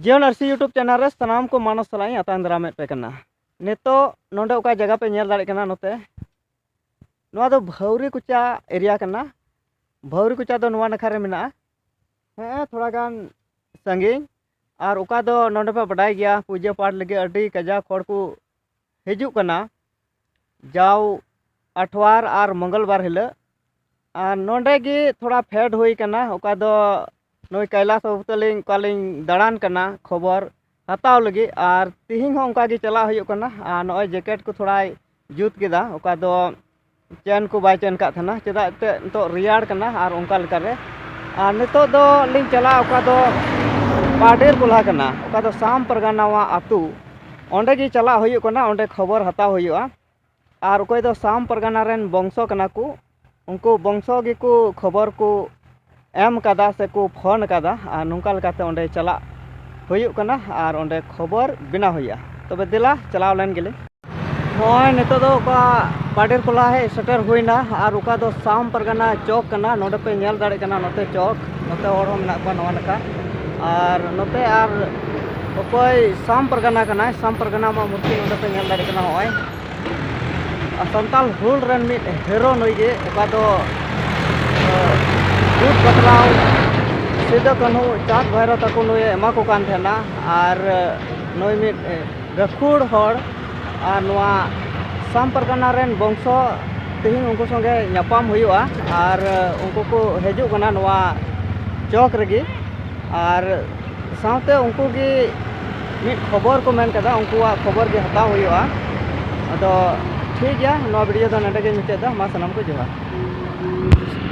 ᱡᱤᱭᱚᱱ ᱟᱨᱥᱤ YouTube channel ᱨᱮ ᱥᱟᱱᱟᱢ ᱠᱚ ᱢᱟᱱᱚᱥ ᱥᱟᱞᱟᱜ ᱤᱧ ᱟᱛᱟᱝ ᱫᱟᱨᱟᱢᱮᱫ ᱯᱮ ᱠᱟᱱᱟ ᱱᱤᱛᱚᱜ ᱱᱚᱰᱮ ᱚᱠᱟ ᱡᱟᱭᱜᱟ ᱯᱮ ᱧᱮᱞ ᱫᱟᱲᱮᱭᱟᱜ ᱠᱟᱱᱟ ᱱᱚᱛᱮ ᱱᱚᱣᱟ ᱫᱚ ᱵᱷᱟᱹᱣᱨᱤ ᱠᱚᱪᱟ ᱮᱨᱤᱭᱟ ᱠᱟᱱᱟ ᱵᱷᱟᱹᱣᱨᱤ ᱠᱚᱪᱟ ᱫᱚ ᱱᱚᱣᱟ ᱱᱟᱠᱷᱟ ᱨᱮ ᱢᱮᱱᱟᱜᱼᱟ ᱦᱮᱸ ᱛᱷᱚᱲᱟ ᱜᱟᱱ ᱥᱟᱺᱜᱤᱧ ᱟᱨ ᱚᱠᱟ ᱫᱚ ᱱᱚᱰᱮ ᱯᱮ ᱵᱟᱰᱟᱭ ᱜᱮᱭᱟ ᱯᱩᱡᱟᱹ ᱯᱟᱴ ᱞᱟᱹᱜᱤᱫ ᱟᱹᱰᱤ ᱠᱟᱡᱟᱠ ᱦᱚᱲ ᱠᱚ ᱦᱤᱡᱩᱜ ᱠᱟᱱᱟ ᱡᱟᱣ ᱟᱴᱷᱣᱟᱨ ᱟᱨ ᱢᱚᱝᱜᱚᱞᱵᱟᱨ ᱦᱤᱞᱳᱜ ᱟᱨ ᱱᱚᱰᱮ ᱜᱮ ᱛᱷᱚᱲᱟ ᱯᱷᱮᱰ ᱦᱩᱭ ᱠᱟᱱᱟ ᱚᱠᱟ ᱫᱚ ᱱᱩᱭ ᱠᱟᱭᱞᱟᱥ ᱵᱟᱹᱵᱩ ᱛᱟᱹᱞᱤᱧ ᱚᱠᱟ ᱞᱤᱧ ᱫᱟᱬᱟᱱ ᱠᱟᱱᱟ ᱠᱷᱚᱵᱚᱨ ᱦᱟᱛᱟᱣ ᱞᱟᱹᱜᱤᱫ ᱟᱨ ᱛᱤᱦᱤᱧ ᱦᱚᱸ ᱚᱱᱠᱟ ᱜᱮ ᱪᱟᱞᱟᱜ ᱦᱩᱭᱩᱜ ᱠᱟᱱᱟ ᱟᱨ ᱱᱚᱜᱼᱚᱭ ᱡᱮᱠᱮᱴ ᱠᱚ ᱛᱷᱚᱲᱟᱭ ᱡᱩᱛ ᱠᱮᱫᱟ ᱚᱠᱟ ᱫᱚ ᱪᱮᱱ ᱠᱚ ᱵᱟᱭ ᱪᱮᱱ ᱠᱟᱜ ᱛᱟᱦᱮᱱᱟ ᱪᱮᱫᱟᱜ ᱮᱱᱛᱮᱫ ᱱᱤᱛᱚᱜ ᱨᱮᱭᱟᱲ ᱠᱟᱱᱟ ᱟᱨ ᱚᱱᱠᱟ ᱞᱮᱠᱟᱨᱮ ᱟᱨ ᱱᱤᱛᱚᱜ ᱫᱚ ᱞᱤᱧ ᱪᱟᱞᱟᱜᱼᱟ ᱚᱠᱟ ᱫᱚ ᱯᱟᱰᱮᱨ ᱠᱚᱞᱦᱟ ᱠᱟᱱᱟ ᱚᱠᱟ ᱫᱚ ᱥᱟᱢ ᱯᱟᱨᱜᱟᱱᱟᱣᱟᱜ ᱟᱹᱛᱩ ᱚᱸᱰᱮ ᱜᱮ ᱪᱟᱞᱟᱜ ᱦᱩᱭᱩᱜ ᱠᱟᱱᱟ ᱚᱸᱰᱮ ᱠᱷᱚᱵᱚᱨ ᱦᱟᱛᱟᱣ ᱦᱩᱭᱩᱜᱼᱟ ᱟᱨ ᱚᱠᱚᱭ ᱫᱚ ᱥᱟᱢ ᱯᱟᱨᱜᱟᱱᱟ ᱨᱮᱱ ᱵᱚᱝᱥᱚ ᱠᱟᱱᱟ ᱠᱚ ᱩᱱᱠᱩ ᱵᱚᱝᱥᱚ ᱜᱮᱠᱚ ᱠᱷᱚᱵᱚᱨ ᱠᱚ ᱮᱢ ᱠᱟᱫᱟ ᱥᱮᱠᱚ ᱯᱷᱳᱱ ᱠᱟᱫᱟ ᱟᱨ ᱱᱚᱝᱠᱟ ᱞᱮᱠᱟᱛᱮ ᱚᱸᱰᱮ ᱪᱟᱞᱟᱜ ᱦᱩᱭᱩᱜ ᱠᱟᱱᱟ ᱟᱨ ᱚᱸᱰᱮ ᱠᱷᱚᱵᱚᱨ ᱵᱮᱱᱟᱣ ᱦᱩᱭᱩᱜᱼᱟ ᱛᱚᱵᱮ ᱫᱮᱞᱟ ᱪᱟᱞᱟᱣ ᱞᱮᱱ ᱜᱮᱞᱤᱧ ᱱᱚᱜᱼᱚᱭ ᱱᱤᱛᱚᱜ ᱫᱚ ᱚᱠᱟ ᱯᱟᱰᱮᱨ ᱠᱚᱞᱟ ᱦᱮᱡ ᱥᱮᱴᱮᱨ ᱦᱩᱭᱱᱟ ᱟᱨ ᱚᱠᱟ ᱫᱚ ᱥᱟᱢ ᱯᱟᱨᱜᱟᱱᱟ ᱪᱚᱠ ᱠᱟᱱᱟ ᱱᱚᱰᱮ ᱯᱮ ᱧᱮᱞ ᱫᱟᱲᱮᱭᱟᱜ ᱠᱟᱱᱟ ᱱᱚᱛᱮ ᱪᱚᱠ ᱱᱚᱛᱮ ᱦᱚᱲ ᱦᱚᱸ ᱢᱮᱱᱟᱜ ᱠᱚᱣᱟ ᱱᱚᱣᱟ ᱱᱟᱠᱷᱟ ᱟᱨ ᱱᱚᱛᱮ ᱟᱨ ᱚᱠᱚᱭ ᱥᱟᱢ ᱯᱟᱨᱜᱟᱱᱟ ᱠᱟᱱᱟᱭ ᱥᱟᱢ ᱯᱟᱨᱜᱟᱱᱟ ᱢᱟ ᱢᱩᱨᱛᱤ ᱱᱚᱰᱮ ᱯᱮ ᱧᱮᱞ ᱫᱟᱲᱮᱭᱟᱜ ᱠᱟᱱᱟ ᱱᱚᱜᱼᱚᱭ ᱥᱟᱱᱛᱟᱞ ᱦᱩᱞ ᱨᱮᱱ ᱢᱤᱫ ᱦᱮᱨᱳ ᱱᱩᱭ ᱜᱮ ᱚᱠᱟ ᱫᱚ ᱡᱩᱴ ᱵᱟᱛᱞᱟᱣ ᱥᱤᱫᱩ ᱠᱟᱹᱱᱦᱩ ᱪᱟᱸᱫᱽ ᱵᱷᱟᱭᱨᱚ ᱛᱟᱠᱚ ᱱᱩᱭᱮ ᱮᱢᱟ ᱠᱚ ᱠᱟᱱ ᱛᱟᱦᱮᱱᱟ ᱟᱨ ᱱᱩᱭ ᱢᱤᱫ ᱜᱟᱹᱠᱷᱩᱲ ᱦᱚᱲ ᱟᱨ ᱱᱚᱣᱟ ᱥᱟᱢ ᱯᱟᱨᱜᱟᱱᱟ ᱨᱮᱱ ᱵᱚᱝᱥᱚ ᱛᱮᱦᱮᱧ ᱩᱱᱠᱩ ᱥᱚᱸᱜᱮ ᱧᱟᱯᱟᱢ ᱦᱩᱭᱩᱜᱼᱟ ᱟᱨ ᱩᱱᱠᱩ ᱠᱚ ᱦᱤᱡᱩᱜ ᱠᱟᱱᱟ ᱱᱚᱣᱟ ᱪᱚᱠ ᱨᱮᱜᱮ ᱟᱨ ᱥᱟᱶᱛᱮ ᱩᱱᱠᱩ ᱜᱮ ᱢᱤᱫ ᱠᱷᱚᱵᱚᱨ ᱠᱚ ᱢᱮᱱ ᱠᱟᱫᱟ ᱩᱱᱠᱩᱣᱟᱜ ᱠᱷᱚᱵᱚᱨ ᱜᱮ ᱦᱟᱛᱟᱣ ᱦᱩᱭᱩᱜᱼᱟ ᱟᱫᱚ ᱴᱷᱤᱠ ᱜᱮᱭᱟ ᱱᱚᱣᱟ ᱵᱷᱤᱰᱭᱳ ᱫᱚ ᱱᱚᱰᱮ ᱜᱮᱧ ᱢᱩᱪᱟᱹᱫ ᱮᱫᱟ ᱢᱟ ᱥᱟᱱᱟᱢ ᱠᱚ ᱡᱚᱦᱟᱨ